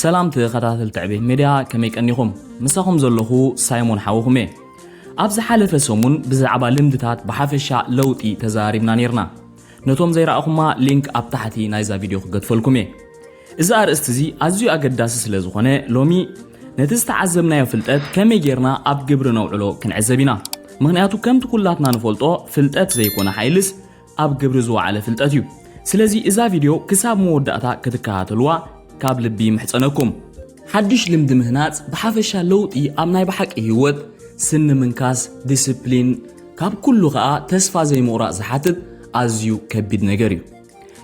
ሰላም ተኸታተልቲ ዕቤት ሜድያ ከመይ ቀኒኹም ምሳኹም ዘለኹ ሳይሞን ሓውኹም እየ ኣብ ዝሓለፈ ሰሙን ብዛዕባ ልምድታት ብሓፈሻ ለውጢ ተዘራሪብና ነርና ነቶም ዘይረኣኹማ ሊንክ ኣብ ታሕቲ ናይዛ ቪድዮ ክገድፈልኩም እየ እዚ ኣርእስቲ እዚ ኣዝዩ ኣገዳሲ ስለ ዝኾነ ሎሚ ነቲ ዝተዓዘብናዮ ፍልጠት ከመይ ጌርና ኣብ ግብሪ ነውዕሎ ክንዕዘብ ኢና ምክንያቱ ከምቲ ኩላትና ንፈልጦ ፍልጠት ዘይኮነ ሓይልስ ኣብ ግብሪ ዝወዓለ ፍልጠት እዩ ስለዚ እዛ ቪድዮ ክሳብ መወዳእታ ክትከታተልዋ ካብ ልቢ ይምሕጸነኩም ሓድሽ ልምዲ ምህናጽ ብሓፈሻ ለውጢ ኣብ ናይ ብሓቂ ህይወት ስኒ ምንካስ ዲስፕሊን ካብ ኩሉ ከኣ ተስፋ ዘይምቑራጽ ዝሓትት ኣዝዩ ከቢድ ነገር እዩ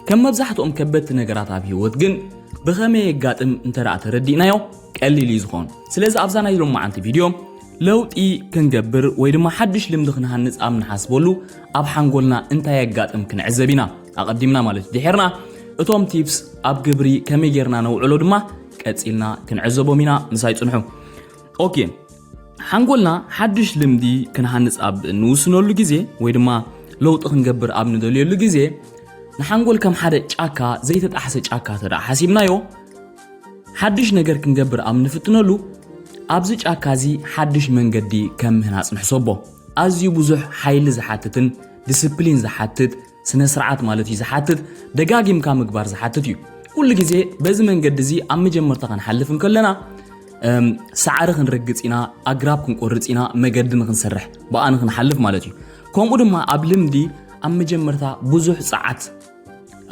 ከም መብዛሕትኦም ከበድቲ ነገራት ኣብ ህይወት ግን ብኸመይ የጋጥም እንተ ተረዲእናዮ ቀሊል እዩ ዝኾን ስለዚ ኣብዛ ናይ ሎመዓንቲ ቪድዮ ለውጢ ክንገብር ወይ ድማ ሓድሽ ልምዲ ክንሃንጽ ኣብ ንሓስበሉ ኣብ ሓንጎልና እንታይ የጋጥም ክንዕዘብ ኢና ኣቐዲምና ማለት እዩ ድሒርና እቶም ቲፕስ ኣብ ግብሪ ከመይ ጌርና ነውዕሎ ድማ ቀጺልና ክንዕዘቦም ኢና ምሳይ ጽንሑ ኦኬ ሓንጎልና ሓድሽ ልምዲ ክንሃንፅ ኣብ እንውስነሉ ግዜ ወይ ድማ ለውጢ ክንገብር ኣብ ንደልየሉ ግዜ ንሓንጎል ከም ሓደ ጫካ ዘይተጣሕሰ ጫካ ተደኣ ሓሲብናዮ ሓድሽ ነገር ክንገብር ኣብ ንፍትነሉ ኣብዚ ጫካ እዚ ሓድሽ መንገዲ ከም ምህናፅ ንሕሰቦ ኣዝዩ ብዙሕ ሓይሊ ዝሓትትን ዲስፕሊን ዝሓትት ስነ ስርዓት ማለት እዩ ዝሓትት ደጋጊምካ ምግባር ዝሓትት እዩ ኩሉ ግዜ በዚ መንገዲ እዚ ኣብ መጀመርታ ክንሓልፍ እንከለና ሳዕሪ ክንረግፅ ኢና ኣግራብ ክንቆርፅ ኢና መገዲ ንክንሰርሕ ብኣ ንክንሓልፍ ማለት እዩ ከምኡ ድማ ኣብ ልምዲ ኣብ መጀመርታ ብዙሕ ፀዓት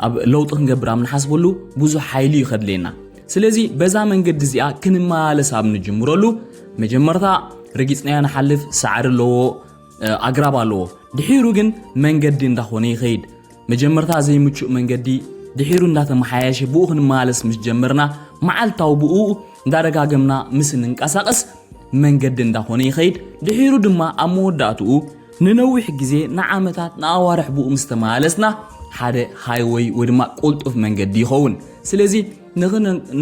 ኣብ ለውጢ ክንገብር ኣብ ንሓስበሉ ብዙሕ ሓይሊ እዩ ከድልየና ስለዚ በዛ መንገዲ እዚኣ ክንመላለስ ኣብ ንጅምረሉ መጀመርታ ረጊፅናዮ ንሓልፍ ሳዕሪ ኣለዎ ኣግራብ ኣለዎ ድሒሩ ግን መንገዲ እንዳኾነ ይኸይድ መጀመርታ ዘይምቹእ መንገዲ ድሒሩ እንዳተመሓየሸ ብኡ ክንመላለስ ምስ ጀመርና መዓልታዊ ብኡ እንዳደጋገምና ምስ እንንቀሳቐስ መንገዲ እንዳኾነ ይኸይድ ድሒሩ ድማ ኣብ መወዳእትኡ ንነዊሕ ግዜ ንዓመታት ንኣዋርሕ ብኡ ምስ ተመላለስና ሓደ ሃይወይ ወይ ድማ ቁልጡፍ መንገዲ ይኸውን ስለዚ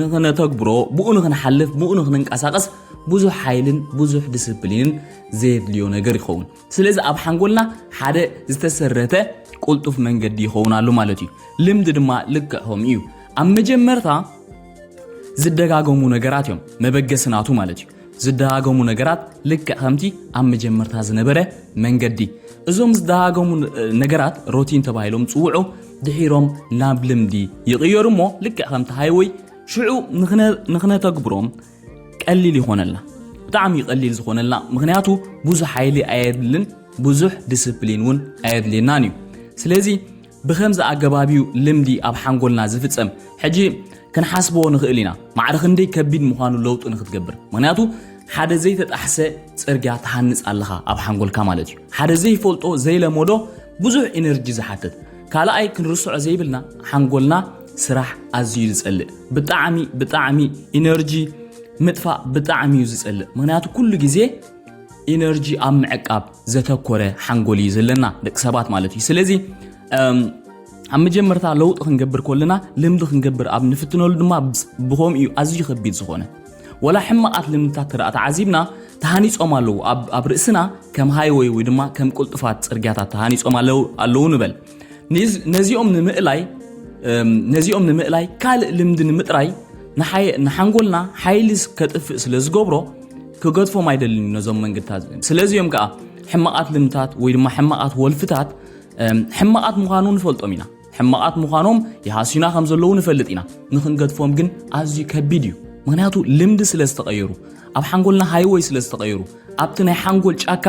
ንኽነተግብሮ ብኡ ንኽንሓልፍ ብኡ ንኽንንቀሳቐስ ብዙሕ ሓይልን ብዙሕ ዲስፕሊንን ዘየድልዮ ነገር ይኸውን ስለዚ ኣብ ሓንጎልና ሓደ ዝተሰረተ ቁልጡፍ መንገዲ ይኸውን ኣሎ ማለት እዩ ልምዲ ድማ ልክዕ ከምኡ እዩ ኣብ መጀመርታ ዝደጋገሙ ነገራት እዮም መበገሲ ናቱ ማለት እዩ ዝደጋገሙ ነገራት ልክዕ ከምቲ ኣብ መጀመርታ ዝነበረ መንገዲ እዞም ዝደጋገሙ ነገራት ሮቲን ተባሂሎም ጽውዑ ድሒሮም ናብ ልምዲ ይቕየሩ እሞ ልክዕ ከምቲ ሃይወይ ሽዑ ንክነተግብሮም ቀሊል ይኾነልና ብጣዕሚ ቀሊል ዝኾነልና ምክንያቱ ብዙሕ ሓይሊ ኣየድልን ብዙሕ ዲስፕሊን እውን ኣየድልየናን እዩ ስለዚ ብኸምዚ ኣገባብ እዩ ልምዲ ኣብ ሓንጎልና ዝፍጸም። ሕጂ ክንሓስቦ ንኽእል ኢና፣ ማዕረ ክንደይ ከቢድ ምዃኑ ለውጢ ንኽትገብር። ምኽንያቱ ሓደ ዘይተጣሕሰ ጽርግያ ትሃንጽ ኣለኻ ኣብ ሓንጎልካ ማለት እዩ። ሓደ ዘይፈልጦ ዘይለመዶ ብዙሕ ኢነርጂ ዝሓትት። ካልኣይ ክንርስዖ ዘይብልና ሓንጎልና ስራሕ ኣዝዩ ዝጸልእ ብጣዕሚ ብጣዕሚ ኢነርጂ ምጥፋእ ብጣዕሚ እዩ ዝጸልእ ምኽንያቱ ኩሉ ግዜ ኢነርጂ ኣብ ምዕቃብ ዘተኮረ ሓንጎል እዩ ዘለና ደቂ ሰባት ማለት እዩ ስለዚ ኣብ መጀመርታ ለውጢ ክንገብር ከለና ልምዲ ክንገብር ኣብ ንፍትነሉ ድማ ብከምኡ እዩ ኣዝዩ ከቢድ ዝኾነ ወላ ሕማቓት ልምድታት ተደኣ ተዓዚብና ተሃኒፆም ኣለዉ ኣብ ርእስና ከም ሃይወይ ወይ ድማ ከም ቅልጡፋት ፅርግያታት ተሃኒፆም ኣለዉ ንበል ነዚኦም ንምእላይ ነዚኦም ንምእላይ ካልእ ልምዲ ንምጥራይ ንሓንጎልና ሓይሊ ከጥፍእ ስለ ዝገብሮ ክገድፎም ኣይደልን ነዞም መንገድታት ስለዚኦም ከዓ ሕማቓት ልምታት ወይ ድማ ሕማቓት ወልፍታት ሕማቓት ምዃኑ ንፈልጦም ኢና ሕማቓት ምዃኖም ይሃስዩና ከም ዘለዉ ንፈልጥ ኢና ንክንገድፎም ግን ኣዝዩ ከቢድ እዩ ምክንያቱ ልምዲ ስለ ዝተቐየሩ ኣብ ሓንጎልና ሃይወይ ስለ ዝተቐየሩ ኣብቲ ናይ ሓንጎል ጫካ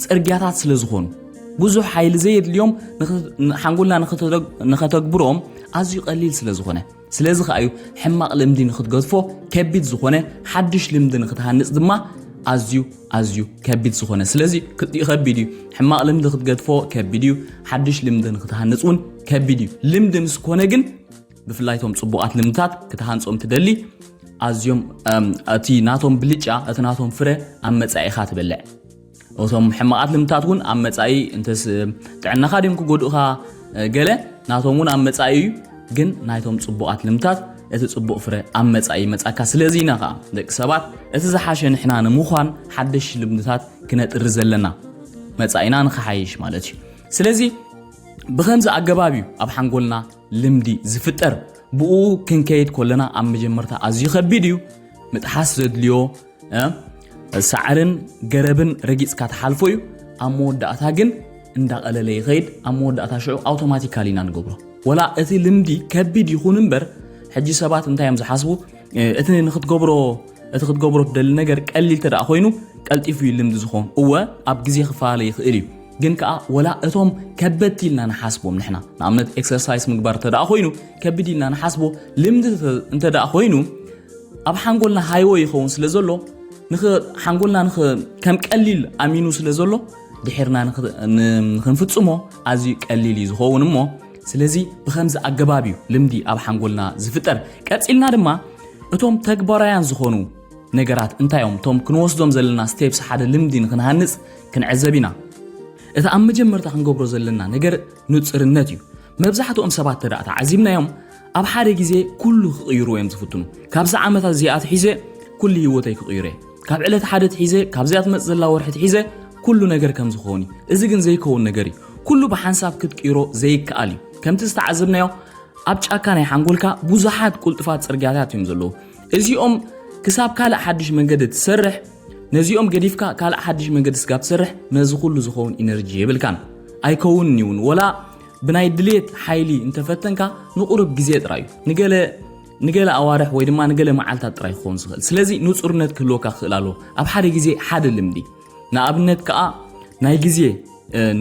ጽርግያታት ስለ ዝኾኑ ብዙሕ ሓይሊ ዘየድልዮም ሓንጎልና ንኸተግብሮም ኣዝዩ ቀሊል ስለ ዝኾነ ስለዚ ከዓ እዩ ሕማቕ ልምዲ ንክትገድፎ ከቢድ ዝኾነ ሓድሽ ልምዲ ንክትሃንፅ ድማ ኣዝዩ ኣዝዩ ከቢድ ዝኾነ ስለዚ ክልቲኡ ከቢድ እዩ ሕማቕ ልምዲ ክትገድፎ ከቢድ እዩ ሓድሽ ልምዲ ንክትሃንፅ እውን ከቢድ እዩ ልምዲ ምስ ኮነ ግን ብፍላይ እቶም ፅቡቓት ልምድታት ክትሃንፆም ትደሊ ኣዝዮም እቲ ናቶም ብልጫ እቲ ናቶም ፍረ ኣብ መፃኢኻ ትበልዕ እቶም ሕማቓት ልምድታት እውን ኣብ መፃኢ እንተስ ጥዕናኻ ድም ክጎድኡኻ ገለ ናቶም እውን ኣብ መፃኢ እዩ ግን ናይቶም ፅቡቓት ልምድታት እቲ ፅቡቕ ፍረ ኣብ መፃኢ መፃካ ስለዚ ኢና ከዓ ደቂ ሰባት እቲ ዝሓሸ ንሕና ንምዃን ሓደሽ ልምድታት ክነጥሪ ዘለና መፃኢና ንክሓይሽ ማለት እዩ ስለዚ ብከምዚ ኣገባብ እዩ ኣብ ሓንጎልና ልምዲ ዝፍጠር ብኡ ክንከይድ ኮለና ኣብ መጀመርታ ኣዝዩ ከቢድ እዩ ምጥሓስ ዘድልዮ ሳዕርን ገረብን ረጊፅካ ትሓልፎ እዩ ኣብ መወዳእታ ግን እንዳቐለለ ይኸይድ ኣብ መወዳእታ ሽዑ ኣውቶማቲካሊ ኢና ንገብሮ ወላ እቲ ልምዲ ከቢድ ይኹን እምበር ሕጂ ሰባት እንታይ እዮም ዝሓስቡ እቲ ንክትገብሮ እቲ ክትገብሮ ትደሊ ነገር ቀሊል ተደኣ ኮይኑ ቀልጢፉ እዩ ልምዲ ዝኸውን እወ ኣብ ግዜ ክፈላለ ይኽእል እዩ ግን ከኣ ወላ እቶም ከበድቲ ኢልና ንሓስቦም ንሕና ንኣብነት ኤክሰርሳይስ ምግባር እንተደኣ ኮይኑ ከቢድ ኢልና ንሓስቦ ልምዲ እንተደኣ ኮይኑ ኣብ ሓንጎልና ሃይወ ይኸውን ስለ ዘሎ ሓንጎልና ከም ቀሊል ኣሚኑ ስለ ዘሎ ድሕርና ንክንፍፅሞ ኣዝዩ ቀሊል እዩ ዝኸውን እሞ ስለዚ ብከምዚ ኣገባብ እዩ ልምዲ ኣብ ሓንጎልና ዝፍጠር ቀፂልና ድማ እቶም ተግባራውያን ዝኾኑ ነገራት እንታይ እዮም? እቶም ክንወስዶም ዘለና ስቴፕስ ሓደ ልምዲ ንክንሃንጽ ክንዕዘብ ኢና። እቲ ኣብ መጀመርታ ክንገብሮ ዘለና ነገር ንጽርነት እዩ። መብዛሕትኦም ሰባት ተዳእ ተዓዚብናዮም ኣብ ሓደ ግዜ ኩሉ ክቕይርዎ እዮም ዝፍትኑ። ካብዚ ዓመት ኣዚኣ ትሒዘ ኩሉ ህይወተይ ክቕይሮ እየ። ካብ ዕለት ሓደ ትሒዘ ካብዚኣ ትመጽእ ዘላ ወርሒ ትሒዘ ኩሉ ነገር ከም ዝኸውን እዩ። እዚ ግን ዘይከውን ነገር እዩ። ኩሉ ብሓንሳብ ክትቅይሮ ዘይከኣል እዩ። ከምቲ ዝተዓዘብናዮ ኣብ ጫካ ናይ ሓንጎልካ ብዙሓት ቁልጡፋት ጽርግያታት እዮም ዘለዉ። እዚኦም ክሳብ ካልእ ሓድሽ መንገዲ ትሰርሕ ነዚኦም ገዲፍካ ካልእ ሓድሽ መንገዲ ስጋብ ትሰርሕ ነዚ ኩሉ ዝኸውን ኢነርጂ የብልካን ኣይከውንን እዩ እውን ወላ ብናይ ድሌት ሓይሊ እንተፈተንካ ንቑርብ ግዜ ጥራይ እዩ ንገለ ንገለ ኣዋርሕ ወይ ድማ ንገለ መዓልታት ጥራይ ክኸውን ዝኽእል ስለዚ ንጹርነት ክህልወካ ክኽእል ኣለዎ ኣብ ሓደ ግዜ ሓደ ልምዲ ንኣብነት ከኣ ናይ ግዜ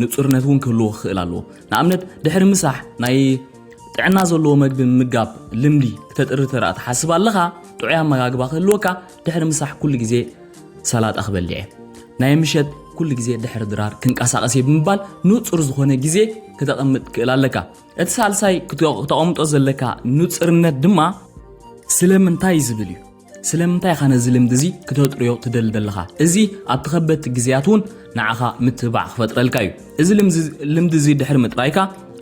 ንጹርነት እውን ክህልዎ ክኽእል ኣለዎ ንኣብነት ድሕሪ ምሳሕ ናይ ጥዕና ዘለዎ መግቢ ምምጋብ ልምዲ ክተጥሪ ተረኣ ትሓስብ ኣለኻ ጥዑይ ኣመጋግባ ክህልወካ ድሕሪ ምሳሕ ኩሉ ግዜ ሰላጣ ክበልዕ እየ ናይ ምሸት ኩሉ ግዜ ድሕሪ ድራር ክንቀሳቐስ እየ ብምባል ንጹር ዝኾነ ግዜ ክተቐምጥ ክእል ኣለካ እቲ ሳልሳይ ክተቐምጦ ዘለካ ንጽርነት ድማ ስለምንታይ ዝብል እዩ ስለምንታይ ኢኻ ነዚ ልምዲ እዚ ክተጥርዮ ትደሊ ዘለኻ? እዚ ኣብቲ ከበድቲ ግዜያት እውን ንዓኻ ምትብባዕ ክፈጥረልካ እዩ። እዚ ልምዲ እዚ ድሕሪ ምጥራይካ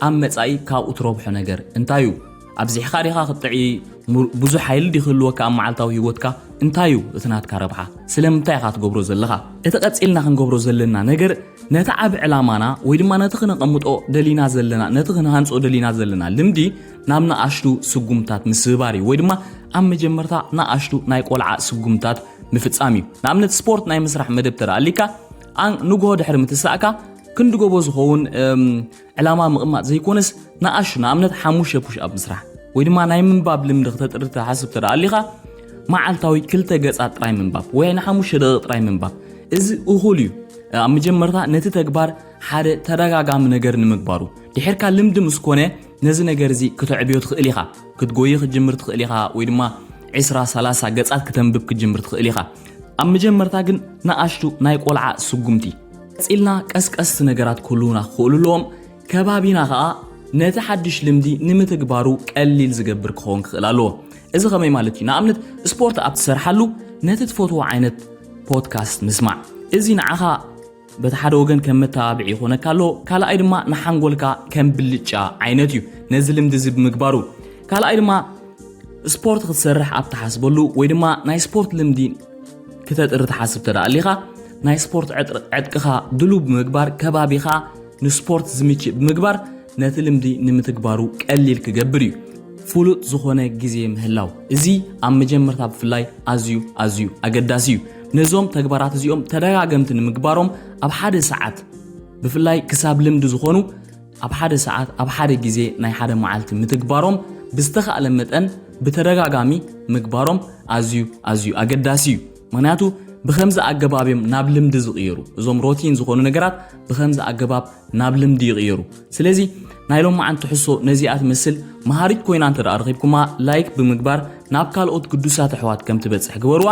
ኣብ መጻኢ ካብኡ ትረብሖ ነገር እንታይ እዩ? ኣብዚሕካ ዲኻ ክትጥዕይ? ብዙሕ ሓይሊ ድዩ ክህልወካ ኣብ መዓልታዊ ህይወትካ? እንታይ እዩ እቲ ናትካ ረብሓ? ስለምንታይ ኢኻ ትገብሮ ዘለኻ? እቲ ቀጺልና ክንገብሮ ዘለና ነገር ነቲ ዓቢ ዕላማና ወይ ድማ ነቲ ክነቐምጦ ደሊና ዘለና ነቲ ክንሃንጾ ደሊና ዘለና ልምዲ ናብ ንኣሽቱ ስጉምታት ምስብባር እዩ ወይ ድማ ኣብ መጀመርታ ንኣሽቱ ናይ ቆልዓ ስጉምታት ምፍጻም እዩ ንኣብነት ስፖርት ናይ ምስራሕ መደብ ተደኣሊካ ንግሆ ድሕሪ ምትሳእካ ክንዲ ጎቦ ዝኸውን ዕላማ ምቕማጥ ዘይኮነስ ንኣሹ ንኣብነት ሓሙሽተ ፑሽኣፕ ምስራሕ ወይ ድማ ናይ ምንባብ ልምዲ ክተጥሪ ትሓስብ ተደኣ ኣሊኻ መዓልታዊ ክልተ ገጻት ጥራይ ምንባብ ወይ ንሓሙሽተ ደቂቕ ጥራይ ምንባብ እዚ እኹል እዩ ኣብ መጀመርታ ነቲ ተግባር ሓደ ተደጋጋሚ ነገር ንምግባሩ ድሕርካ ልምዲ ምስ ኮነ ነዚ ነገር እዚ ክተዕብዮ ትኽእል ኢኻ ክትጎይ ክትጅምር ትኽእል ኢኻ ወይ ድማ 20 30 ገጻት ክተንብብ ክትጅምር ትኽእል ኢኻ ኣብ መጀመርታ ግን ንኣሽቱ ናይ ቆልዓ ስጉምቲ ቀጺልና ቀስቀስቲ ነገራት ክህልዉና ክኽእሉ ኣለዎም፣ ከባቢና ከኣ ነቲ ሓድሽ ልምዲ ንምትግባሩ ቀሊል ዝገብር ክኸውን ክኽእል ኣለዎ። እዚ ከመይ ማለት እዩ? ንኣብነት ስፖርት ኣብ ትሰርሓሉ ነቲ ትፈትዎ ዓይነት ፖድካስት ምስማዕ እዚ ንዓኻ በቲ ሓደ ወገን ከም መተባብዒ ይኾነካ ኣሎ፣ ካልኣይ ድማ ንሓንጎልካ ከም ብልጫ ዓይነት እዩ ነዚ ልምዲ እዚ ብምግባሩ። ካልኣይ ድማ ስፖርት ክትሰርሕ ኣብ ትሓስበሉ ወይ ድማ ናይ ስፖርት ልምዲ ክተጥሪ ትሓስብ ተደኣ ኣሊኻ ናይ ስፖርት ዕጥቅኻ ድሉው ብምግባር ከባቢኻ ንስፖርት ዝምችእ ብምግባር ነቲ ልምዲ ንምትግባሩ ቀሊል ክገብር እዩ ፍሉጥ ዝኾነ ግዜ ምህላው እዚ ኣብ መጀመርታ ብፍላይ ኣዝዩ ኣዝዩ ኣገዳሲ እዩ ነዞም ተግባራት እዚኦም ተደጋገምቲ ንምግባሮም ኣብ ሓደ ሰዓት ብፍላይ ክሳብ ልምዲ ዝኾኑ ኣብ ሓደ ሰዓት ኣብ ሓደ ግዜ ናይ ሓደ መዓልቲ ምትግባሮም ብዝተኻእለ መጠን ብተደጋጋሚ ምግባሮም ኣዝዩ ኣዝዩ ኣገዳሲ እዩ ምክንያቱ ብከምዚ ኣገባብ እዮም ናብ ልምዲ ዝቕየሩ እዞም ሮቲን ዝኾኑ ነገራት ብከምዚ ኣገባብ ናብ ልምዲ ይቕየሩ ስለዚ ናይ ሎማዓን ትሕሶ ነዚኣ ትመስል መሃሪት ኮይና እንተ ደኣ ረኺብኩማ ላይክ ብምግባር ናብ ካልኦት ግዱሳት ኣሕዋት ከም ትበጽሕ ግበርዋ